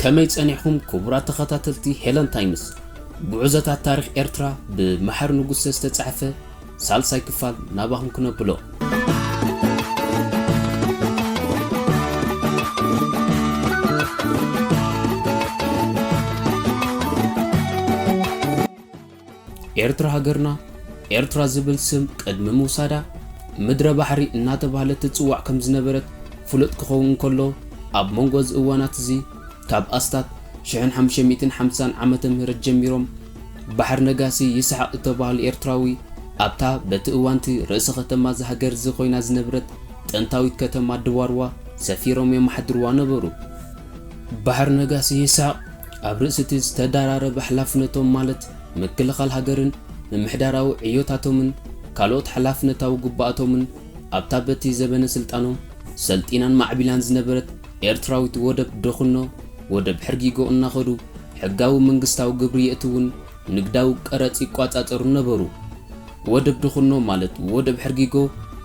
ከመይ ጸኒሕኩም ክቡራት ተኸታተልቲ ሄለን ታይምስ ጉዕዞታት ታሪኽ ኤርትራ ብመሓሪ ንጉሰ ዝተጻሕፈ ሳልሳይ ክፋል ናባኹም ክነብሎ። ኤርትራ ሃገርና ኤርትራ ዝብል ስም ቅድሚ ምውሳዳ ምድረ ባሕሪ እናተባህለት ትጽዋዕ ከም ዝነበረት ፍሉጥ ክኸውን ከሎ ኣብ መንጎ እዚ እዋናት እዚ ካብ ኣስታት ሽሕን ሓሙሽተ ሚእትን ሓምሳን ዓመተ ምህረት ጀሚሮም ባሕር ነጋሲ ይስሓቕ እተባህሉ ኤርትራዊ ኣብታ በቲ እዋንቲ ርእሰ ከተማ እዛ ሃገር እዚ ኮይና ዝነብረት ጥንታዊት ከተማ ድዋርዋ ሰፊሮም የማሕድርዋ ነበሩ። ባሕር ነጋሲ ይስሐቅ ኣብ ርእሲ'ቲ ዝተደራረበ ሓላፍነቶም ማለት ምክልኻል ሃገርን ምምሕዳራዊ ዕዮታቶምን ካልኦት ሓላፍነታዊ ግቡኣቶምን ኣብታ በቲ ዘበነ ስልጣኖም ሰልጢናን ማዕቢላን ዝነበረት ኤርትራዊት ወደብ ደኹኖ ወደብ ሕርጊጎ እናኸዱ ሕጋዊ መንግስታዊ ግብሪ የእትዉን ንግዳዊ ቀረጽ ይቋጻጸሩን ነበሩ። ወደብ ደኹኖ ማለት ወደብ ሕርጊጎ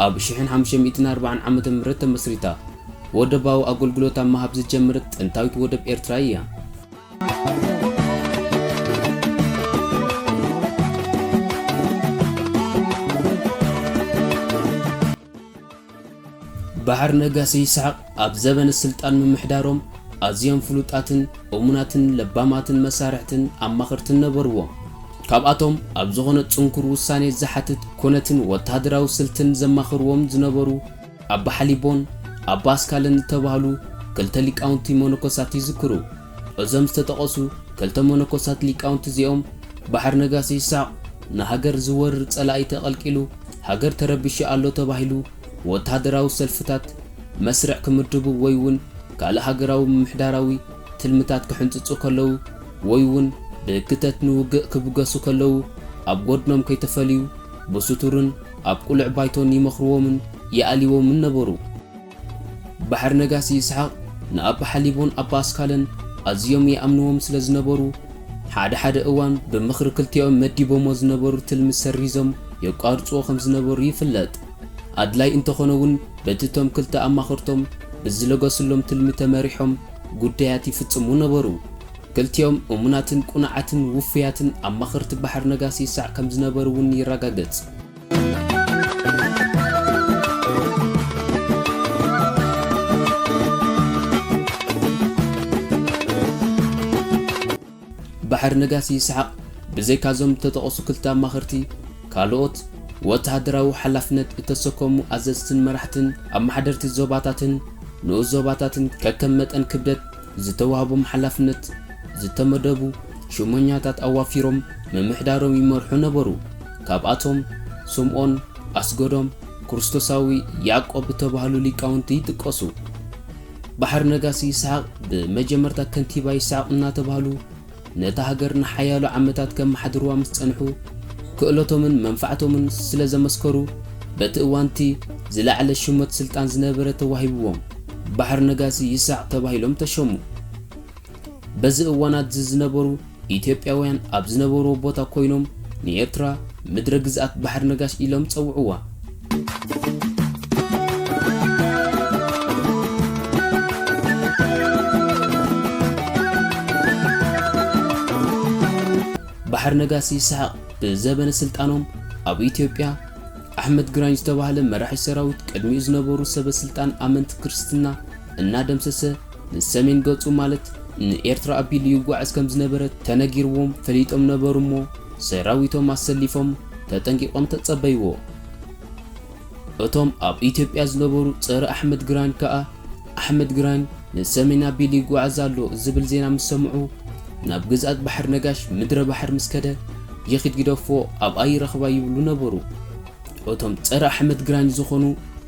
ኣብ ሽሕን ሓሙሽተ ሚእትን ኣርባዓን ዓመተ ምህረት ተመስሪታ። ወደባዊ ኣጎልጉሎት ኣብ ምሃብ ዝጀምርት ጥንታዊት ወደብ ኤርትራ እያ። ባሕር ነጋሲ ይስሓቕ ኣብ ዘበነ ስልጣን ምምሕዳሮም ኣዝዮም ፍሉጣትን እሙናትን ለባማትን መሳርሕትን ኣማኸርትን ነበርዎ። ካብኣቶም ኣብ ዝኾነ ጽንኩር ውሳኔ ዝሓትት ኩነትን ወተሃደራዊ ስልትን ዘማኽርዎም ዝነበሩ፣ ኣባ ሓሊቦን ኣባ ኣስካለን ዝተባህሉ ክልተ ሊቃውንቲ መነኮሳት ይዝክሩ። እዞም ዝተጠቐሱ ክልተ መነኮሳት ሊቃውንቲ እዚኦም ባሕር ነጋሲ ይስሐቕ ንሃገር ዝወርር ጸላኢ ተቐልቂሉ ሃገር ተረቢሹ ኣሎ ተባሂሉ ወተሃደራዊ ሰልፍታት መስርዕ ክምድቡ ወይ'ውን ካልእ ሃገራዊ ምምሕዳራዊ ትልምታት ክሕንጽጹ ከለዉ ወይ'ውን ብህግተት ንውግእ ክብገሱ ከለዉ ኣብ ጎድኖም ከይተፈልዩ ብስቱርን ኣብ ቁልዕ ባይቶን ይመኽርዎምን ይኣልይዎምን ነበሩ። ባሕር ነጋሲ ይስሓቕ ንኣባ ሓሊቦን ኣባ ኣስካለን ኣዝዮም ይኣምንዎም ስለ ዝነበሩ፣ ሓደ ሓደ እዋን ብምኽሪ ክልቲኦም መዲቦሞ ዝነበሩ ትልሚ ሰሪዞም የቋርጽዎ ከም ዝነበሩ ይፍለጥ። ኣድላይ እንተኾነ'ውን በቲ እቶም ክልተ ኣማኸርቶም ብዝለገሱሎም ትልሚ ተመሪሖም ጉዳያት ይፍጽሙ ነበሩ። ክልቲኦም እሙናትን ቅኑዓትን ውፉያትን ኣማኸርቲ ባሕር ነጋሲ ይሳዕ ከም ዝነበሩ እውን ይረጋገጽ። ባሕር ነጋሲ ይስሓቕ ብዘይካ እዞም እተጠቐሱ ክልተ ኣማኸርቲ፣ ካልኦት ወተሃደራዊ ሓላፍነት እተሰከሙ ኣዘዝትን መራሕትን ኣመሓደርቲ ዞባታትን ንኡስ ዞባታትን ከከም መጠን ክብደት፣ ዝተዋህቦም ሓላፍነት ዝተመደቡ ሹመኛታት ኣዋፊሮም ምምሕዳሮም ይመርሑ ነበሩ። ካብኣቶም ስምኦን፣ ኣስገዶም፣ ክርስቶሳዊ ያዕቆብ እተባህሉ ሊቃውንቲ ይጥቀሱ። ባሕር ነጋሲ ይስሓቕ ብመጀመርታ ከንቲባ ይስሓቕ እናተባህሉ፣ ነታ ሃገር ንሓያሎ ዓመታት ከመሓድሩዋ ምስ ጸንሑ፣ ክእለቶምን መንፋዕቶምን ስለ ዘመስከሩ፣ በቲ እዋን'ቲ ዝለዓለ ሹመት ስልጣን ዝነበረ ተዋሂቡዎም፣ ባሕር ነጋሲ ይስሃቅ ተባሂሎም ተሾሙ። በዚ እዋናት'ዚ ዝነበሩ ኢትዮጵያውያን ኣብ ዝነበሩዎ ቦታ ኮይኖም ንኤርትራ ምድረ ግዝኣት ባሕር ነጋሽ ኢሎም ጸውዑዋ። ባሕር ነጋሲ ይስሐቅ ብዘበነ ስልጣኖም ኣብ ኢትዮጵያ ኣሕመድ ግራኝ ዝተባህለ መራሒ ሰራዊት ቅድሚኡ ዝነበሩ ሰበ ስልጣን ኣመንቲ ክርስትና እናደምሰሰ ንሰሜን ገጹ ማለት ንኤርትራ ኣቢሉ ይጓዓዝ ከም ዝነበረ ተነጊርዎም ፈሊጦም ነበሩ እሞ ሰራዊቶም ኣሰሊፎም ተጠንቂቖም ተጸበይዎ። እቶም ኣብ ኢትዮጵያ ዝነበሩ ጸረ ኣሕመድ ግራኝ ከኣ፣ ኣሕመድ ግራኝ ንሰሜን ኣቢሉ ይጓዓዝ ኣሎ ዝብል ዜና ምስ ሰምዑ፣ ናብ ግዝኣት ባሕር ነጋሽ ምድረ ባሕር ምስ ከደ፣ ይኺድ ግደፎ ኣብኣ ይረኽባ ይብሉ ነበሩ። እቶም ጸረ ኣሕመድ ግራኝ ዝኾኑ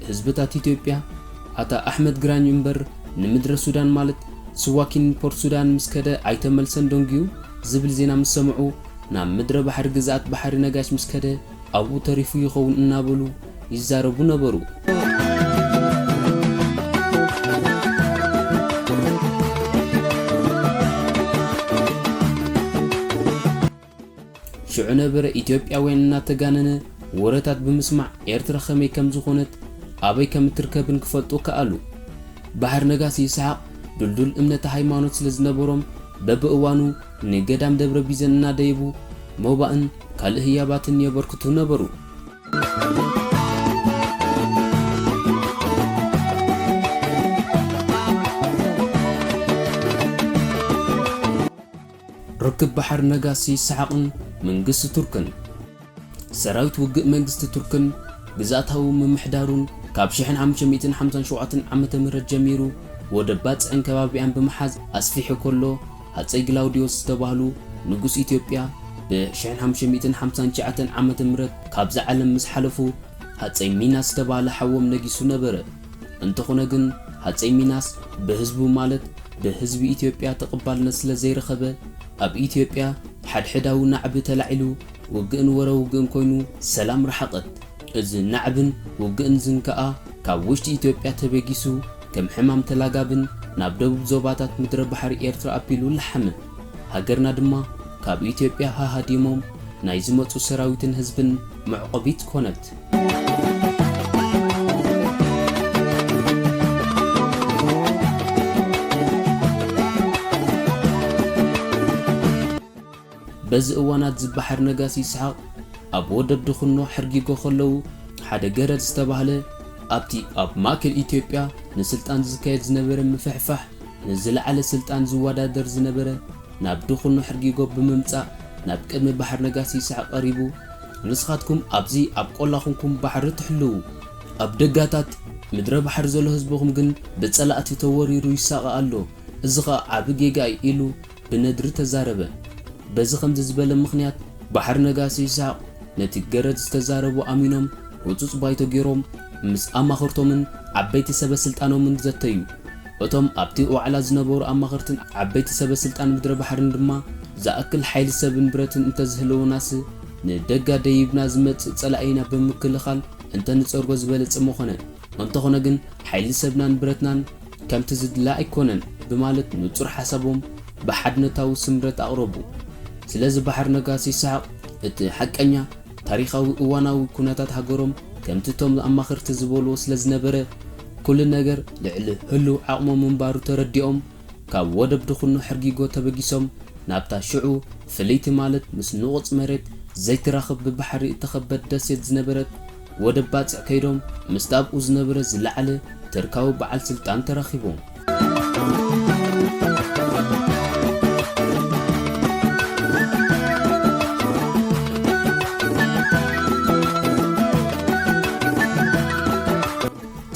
ህዝብታት ኢትዮጵያ፣ ኣታ ኣሕመድ ግራኝ እምበር ንምድረ ሱዳን ማለት ስዋኪንን ፖርትሱዳንን ምስ ከደ ኣይተመልሰን ደንጉዩ ዝብል ዜና ምስ ሰምዑ፣ ናብ ምድረ ባሕሪ ግዝኣት ባሕሪ ነጋሽ ምስ ከደ፣ ኣብኡ ተሪፉ ይኸውን እናበሉ ይዛረቡ ነበሩ። ሽዑ ነበረ ኢትዮጵያውያን እናተጋነነ ወረታት ብምስማዕ ኤርትራ ከመይ ከም ዝኾነት ኣበይ ከም እትርከብን ክፈልጡ ከኣሉ። ባሕር ነጋሲ ይስሓቕ ድልዱል እምነተ ሃይማኖት ስለ ዝነበሮም በብእዋኑ ንገዳም ደብረ ቢዘን እናደየቡ ሞባእን ካልእ ህያባትን የበርክቱ ነበሩ። ርክብ ባሕር ነጋሲ ይስሓቕን መንግስቲ ቱርክን። ሰራዊት ውግእ መንግስቲ ቱርክን ግዝኣታዊ ምምሕዳሩን ካብ ሽሕን ሓሙሽተ ሚእትን ሓምሳን ሸውዓተን ዓመተ ምህረት ጀሚሩ ወደብ ባጽዕን ከባቢኣን ብምሓዝ ኣስፊሑ ከሎ፣ ሃጸይ ግላውድዮስ ዝተባህሉ ንጉስ ኢትዮጵያ ብ ሽሕን ሓሙሽተን ሚእትን ሓምሳን ትሽዓተን ዓመተ ምህረት ካብዛ ዓለም ምስ ሓለፉ ሃጸይ ሚናስ ዝተባህለ ሓዎም ነጊሱ ነበረ። እንተኾነ ግን ሃጸይ ሚናስ ብህዝቡ ማለት ብህዝቢ ኢትዮጵያ ተቐባልነት ስለ ዘይረኸበ ኣብ ኢትዮጵያ ሓድሕዳዊ ናዕቢ ተላዒሉ ውግእን ወረ ውግእን ኮይኑ ሰላም ረሓቐት። እዚ ናዕብን ውግእን ዝንከኣ ካብ ውሽጢ ኢትዮጵያ ተበጊሱ ከም ሕማም ተላጋብን ናብ ደቡብ ዞባታት ምድረ ባሕሪ ኤርትራ ኣቢሉ ላሓመ። ሃገርና ድማ ካብ ኢትዮጵያ ሃሃዲሞም ናይ ዝመጹ ሰራዊትን ህዝብን መዕቆቢት ኮነት። በዚ እዋናት ዝበሓር ነጋሲ ይስሓቕ ኣብ ወደብ ድኹኖ ሕርጊጎ ከለዉ ሓደ ገረድ ዝተባህለ ኣብቲ ኣብ ማእከል ኢትዮጵያ ንስልጣን ዝካየድ ዝነበረ ምፍሕፋሕ ንዝለዓለ ስልጣን ዝወዳደር ዝነበረ ናብ ድኹኖ ሕርጊጎ ብምምጻእ ናብ ቅድሚ በሓር ነጋሲ ይስሓቕ ቀሪቡ ንስኻትኩም ኣብዚ ኣብ ቆላ ኩንኩም ባሕሪ ትሕልዉ ኣብ ደጋታት ምድረ ባሕሪ ዘሎ ህዝብኹም ግን ብጸላእቲ ተወሪሩ ይሳቐ ኣሎ እዚ ኸኣ ዓቢ ጌጋ እዩ ኢሉ ብነድሪ ተዛረበ። በዚ ከምዚ ዝበለ ምኽንያት ባሕር ነጋሲ ይስሃቅ ነቲ ገረድ ዝተዛረቦ ኣሚኖም ህጹጽ ባይቶ ጌሮም ምስ ኣማኽርቶምን ዓበይቲ ሰበ ስልጣኖምን ዘተዩ። እቶም ኣብቲ ዋዕላ ዝነበሩ ኣማኸርትን ዓበይቲ ሰበ ስልጣን ምድረ ባሕርን ድማ ዝኣክል ሓይሊ ሰብን ብረትን እንተዝህልወናስ ንደጋ ደይብና ዝመጽእ ጸላኢና ብምክልኻል እንተንጸርጎ ዝበለጸ ምኾነ። እንተኾነ ግን ሓይሊ ሰብናን ብረትናን ከምቲ ዝድለ ኣይኮነን ብማለት ንጹር ሓሳቦም ብሓድነታዊ ስምረት ኣቕረቡ። ስለዚ ባሕር ነጋሲ ይስሓቕ እቲ ሓቀኛ ታሪኻዊ እዋናዊ ኩነታት ሃገሮም ከምቲ እቶም ኣማኸርቲ ዝበልዎ ስለዝነበረ ኩሉ ነገር ልዕሊ ህሉው ዓቕሞም ምንባሩ ተረዲኦም ካብ ወደብ ድኹኖ ሕርጊጎ ተበጊሶም ናብታ ሽዑ ፍልይቲ ማለት ምስ ንቑጽ መሬት ዘይትራኽብ ብባሕሪ እተኸበት ደሴት ዝነበረት ወደብ ባጽዕ ከይዶም ምስቲ ኣብኡ ዝነበረ ዝለዓለ ተርካዊ በዓል ስልጣን ተራኺቦም።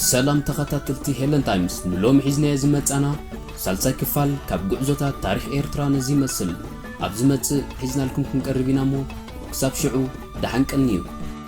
ሰላም ተኸታተልቲ ሄለን ታይምስ ንሎሚ ሒዝናዮ ዝመጻና ሳልሳይ ክፋል ካብ ጉዕዞታት ታሪኽ ኤርትራ ነዚ ይመስል። ኣብ ዝመጽእ ሒዝናልኩም ክንቀርብ ኢና እሞ ክሳብ ሽዑ ደሓን ቀንዩ።